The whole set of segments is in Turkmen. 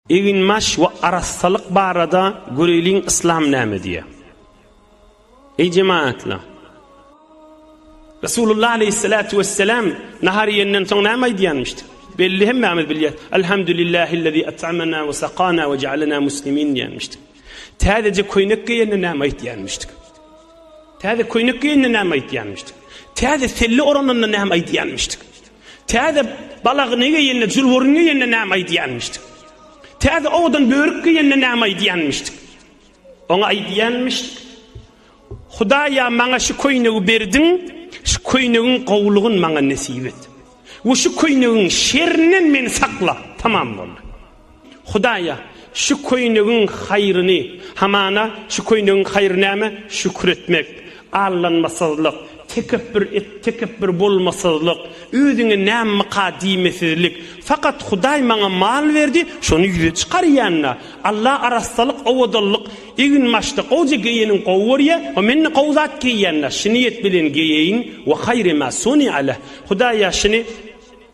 Eginbaş we arassalyk barada göreýliň Yslam näme diýýär. Eý jemagatlar! Resulullah aleýhissalatu wessalam nahar iýenden soň näme aýdýanmyşdy? Belli hemmämiz bilýäs. Elhamdulillahillezî at'amana we sakana we ja'alana muslimin diýenmişdi. Täzeje köýnek geýende näme aýtýanmyşdy? Täze köýnek geýende näme aýtýanmyşdy? Täze selli orananda näme aýtýanmyşdy? Täze balagyny geýende, jülwürüni geýende näme aýdýanmyşdyk? Täze owadan börük geýende näme aýdýanmyşdyk? Oňa aýdýanmyşdyk, Hudaý-a, maňa şu köýnegi berdiň, şu köýnegiň gowulygyny maňa nesip et we şu köýnegiň şerinden meni sakla. Tamam boldy. Hudaýa, şu köýnegiň haýryny, hamana, şu köýnegiň haýry näme? Şükür etmek, allanmasyzlyk, tekepbür et tekepbür bolmasyzlyk, özüňe nämmeka diýmesizlik. Fakat Hudaý maňa mal berdi, şony ýüze çykarýan-da. Alla arassalyk, owadanlyk, eginbaşda gowja geýeniň gowy görýär we men-de gowy zat geýýän-de, şu niýet bilen geýeýin, we haýry ma suni'a leh. Hudaýa, şuny.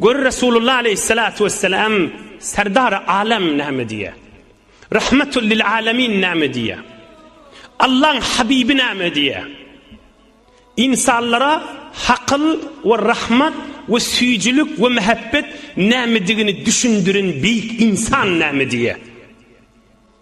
Gör Resulullah aleýhissalatu wessalam Serdary Alem näme diýýär? Rahmatul lil alemin näme diýýär? Allaň Habibi näme diýýär? Ynsanlara hakyl we rahmat we süýjülik we mähebbet nämedigini düşündirin beýik ynsan näme diýýär?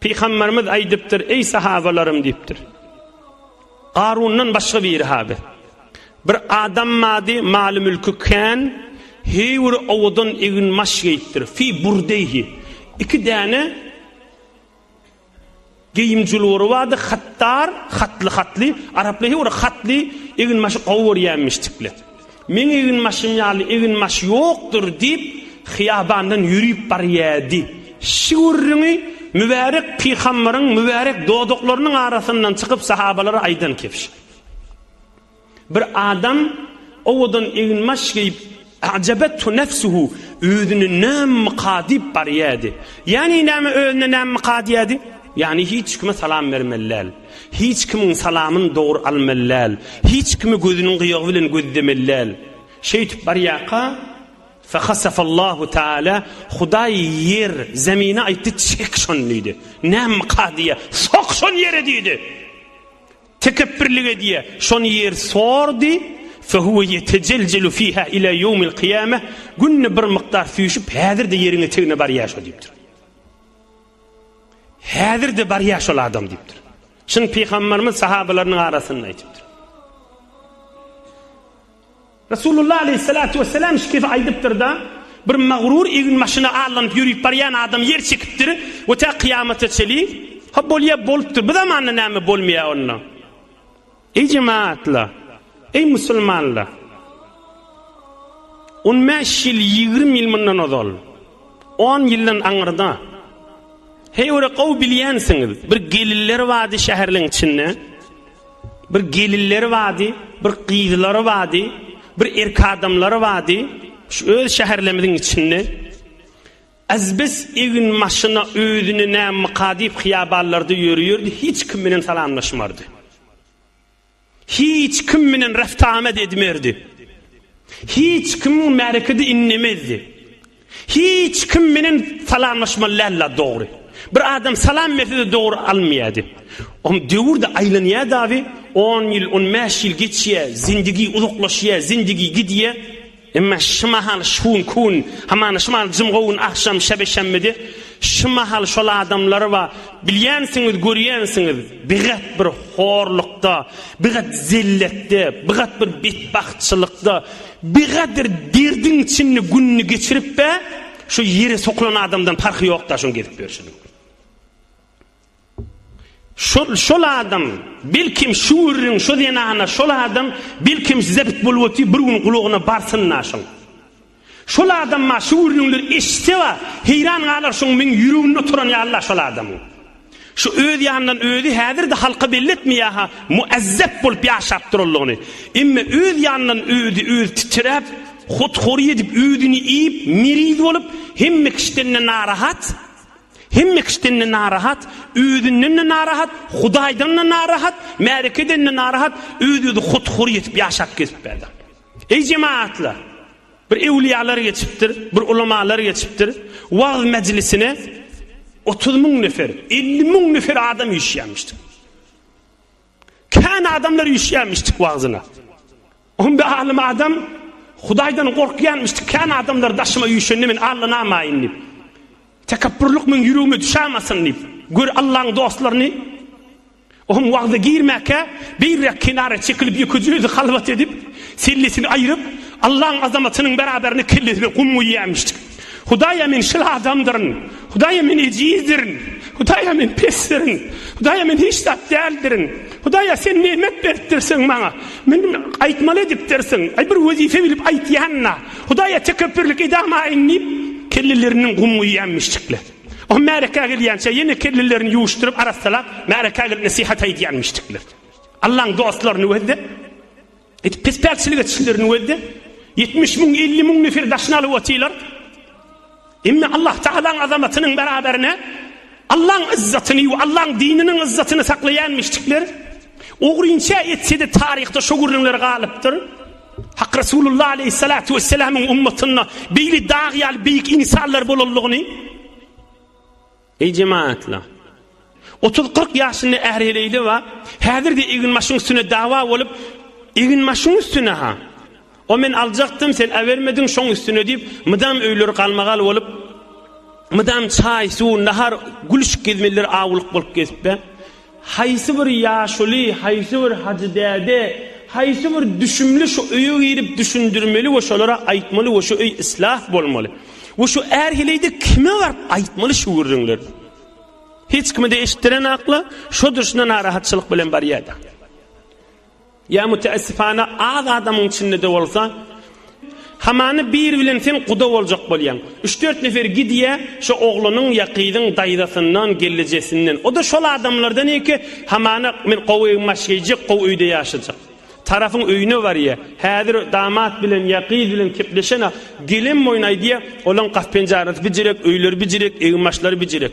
Pygamberimiz aýdypdyr, Eý sahabalarym diýipdir. Garundan başga biri-ha biz. Bir adam bardy, maly-mülki kän, heýwir owadan egin-maş geýipdir. Fi burdeýhi. Iki däne geýim jülwuri bardy, hattar, hatly-hatly, araplar heýwir hatly egin-maşy gowy görýärmişdikler. Meň eginbaşym ýaly eginbaş ýokdur, diýip, hyýabandan ýörüp barýardy. Şu gürrüňi mübärek pygambaryň mübärek dodaklarynyň arasyndan çykyp sahabalara aýdan kebş. Bir adam owadan eginbaş geýip, A'jabethu nefsuhu, özüne nämmyka diýip barýardy. Ýagny näme özüne nämmyka diýýärdi? Ýagny hiç kime salam bermeli däl. Hiç kimiň salamyny dogry almaly däl, hiç kimi gözüniň gyýagy bilen gözlemeli däl. Şeýtip barýarka, Fahasafallahu Taala, Hudaý ýer, zemine aýtdy, Çek şony diýdi. Nämka diýýä, Sok şony ýere diýdi. Tekepbirlik edýä, şony ýer sordy, Fehuwe ýetejeljelu fiha ila ýewmil kyýame, günde bir mukdar süýşüp, häzir-de ýeriň etegine barýa şo diýipdir. Häzir-de barýar şol adam diýipdir. Şuny pygamberimiz sahabalarynyň arasynda aýdypdyr. Resulullah aleyhissalatu vesselam şu gep aýdypdyr-da, bir magrur egin maşyna allanyp ýörüp barýan adam ýer çekipdir we tä kyýamata çeli, ha bolýar bolupdyr, bu zamanda näme bolmaýar onda? Eý jemaatlar! Eý musulmanlar! On bäş ýyl, ýigrimi ýyl mundan ozal, on ýyldan aňyrda, heýwere gowy bilýänsiňiz, bir geliller bady şäherleň içinde, bir geliller bady, bir gyzlar bady, bir erk adamlar bady, şu öz şäherlemiziň içinde. Azbes eginbaşyna özüni nämyka diýip hyýabanlarda ýörüýerdi, hiç kim bilen salamlaşmardy. Hiç kim bilen reft-amat edmerdi. Hiç kimiň märekede inlemezdi. Hiç kim bilen salamlaşmaly däldi-ä dogry. Bir adam salam berse-de dogry almaýardy. Oň döwür-de aýlanýardy abi, on ýyl, on bäş ýyl geçýär, zindigi uzaklaşýar, zindigi gidýär. Emma şu mahal şun kun, hamana şu mahal jymgowun agşam şebeşemmidi, şu mahal şol adamlary ba, bilýänsiňiz, görýänsiňiz, bigat bir horlukda, bigat zelletde, bigat bir betbagtçylykda, bigat bir derdiň içinde gününi geçirip be, şu ýere sokulan adamdan parhy ýok-da şuň gezip ýörşüniň. Şol, şol adam, belkim, şu gürrüň, şu zenana, şol adam, belkim, size boluboty bir gün gulagyna barsyn-la şoň. Şol adam-a şu gürrüňleri eşitse-a, heýran galar şoň meň ýüregimde oturan ýaly-la şol adamyň. Şu öz ýanyndan özi häzir-de halka belli etmeýär-hä, muezzep bolup ýaşap duranlygyny. Emme öz ýanyndan özi, özi titräp, hothory edip, özüni iýip, miriz bolup, hemme kişiden-de narahat, Hemme kişiden-de narahat, özünden-de narahat, Hudaýdan-da narahat, märekeden-de narahat, öz-özi hut-hur ýetip ýaşap gezip berdi. Eý jemagatlar! Bir öwliýalar geçipdir, bir ulamalar geçipdir, wagyz mejlisine otuz müň nefer, elli müň nefer adam üýşýärmişdir. Kän adamlar üýşýärmişdik wagzyna. On bir alym adam Hudaýdan gorkýarmyşdy. Kän adamlar daşyma üýşende men allanamaýyn diýip. Tekepburlyk meň ýüregime düşämasyn diýip. Gör Allaň dostlaryny. Ohm wagza girmäkä beýräk kenara çekilip ýekeje özi halwat edip, sellesini aýryp, Allaň azamatynyň beraberine kellesine gum guýýarmyşdy. Hudaýa men şyl adamdyryn. Hudaýa men ejizdirin. Hudaýa men pesdirin. Hudaýa men hiç zat däldirin. Hudaýa sen nemet beripdirsiň maňa. Men aýtmaly edipdirsiň. Aý bir wezipe bilip aýtýan-da. Hudaýa tekepbürlik edamaýyn diýip, kelleleriniň gum guýýanmyşdyklar. O märekä gelýänçä ýene kellelerini ýuwuşdyryp arassalap, märekä gelip nesihat aýdýanmyşdyklar. Allaň dostlaryny gözde. Edip pispäkçilik etişdiler nüwelde. Ýetmiş müň, elli müň nefer daşyny alyp otylar. Emma Allah Tagalaň azamatynyň beraberine Allaň izzatyny we Allaň dininiň izzatyny saklaýan müşrikler ogrynça etsede taryhda şu gürrüňler galypdyr. Hak Resulullah aleyhissalatu vesselamyň ummatynda beýle dag ýaly beýik insanlar bolanlygyny Eý jemaatlar! Otuz-kyrk ýaşynda äri-heleýli bar, häzir-de eginbaşyň üstüne dawa bolup, Eginbaşyň üstüne-ha! O men aljakdym, sen äbermediň, şoň üstüne diýip, mydam öýleri galmagal bolup, mydam çaý, suw, nahar, gülüşik gezmelidir awulyk bolup gezipler. Haýsy bir ýaşuly, haýsy bir hajy däde, haýsy bir düşümli şu öýe girip düşündirmeli we şolara aýtmaly we şu öý islah bolmaly. We şu är heleýde kime baryp aýtmaly şu gürrüňleri. Hiç kime-de eşitdiren akla, şo durşuna narahatçylyk bilen barýar-da. Ýa müteessifana az adamyň içinde-de bolsa, hamany biri bilen sen guda boljak bolýaň. Üç-dört nefer gidýär, şo oglanyň ýa gyzyň daýzasyndan, gelnejesinden. O-da şol adamlardan ýeke, hamana men gowy ew maş geýjek, gowy öýde ýaşajak. Tarapyň öýüne barýar. Häzir damat bilen ýa gyz bilen kepleşen-ä. Gelenboýun aýdýar, olaň gap-penjarasy bijirek, öýleri bijirek, egin-maşlary bijirek.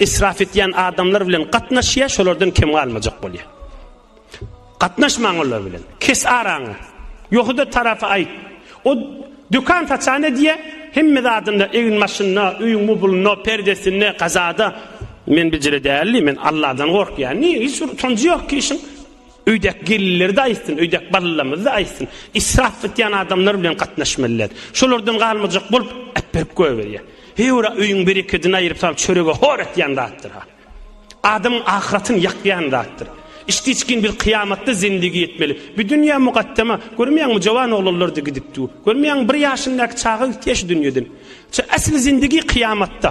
Israf etýän adamlar bilen gatnaşýa, şolardan kem galmajak bolýa. Gatnaşmaň olar bilen. Kes araňy. Ýohuda tarapy aýt. O dükan saçan edýä, hemme zadynda, egin maşynda, öýüň mubulynda, perdesinde, gazada. Men bijire däldi, men Allahdan gorkýan. Niýe hiç bir utanjy ýok ki işiň? Öýdäki gelinleri-de aýtsyn, öýdäki balalarymyzy-da aýtsyn. Israf etýän adamlar bilen gatnaşmalydyr. Şolardan galmajak bolup, äpberip goýberýär. Heý, ora öýüň berekedini aýryp salyp, çörege hor etýän zatdyr-ha. Adamyň ahyratyny ýakýan zatdyr. Içdiçgin biz kyýamatda zendigi etmeli. Bu dünýä mugaddama. Görmeýäňmi, jowan oglanlar-da gidip dur. Görmeýäňmi, bir ýaşyndaky çaga gitýär şu dünýeden. Şu äsli zendigi kyýamatda.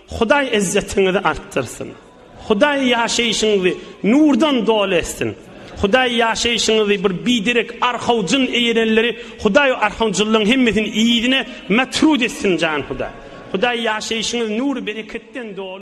Hudaý izzetiňizi artdyrsyn! Hudaý ýaşaýşyňyzy nurdan doly etsin! Hudaý ýaşaýşyňyzy bir biderek arhaw jyn eýerenleri Hudaý o arhawjyllaň hemmesini yzyna matrut etsin jan Hudaý! Hudaý ýaşaýşyňyzy nur bereketden doly.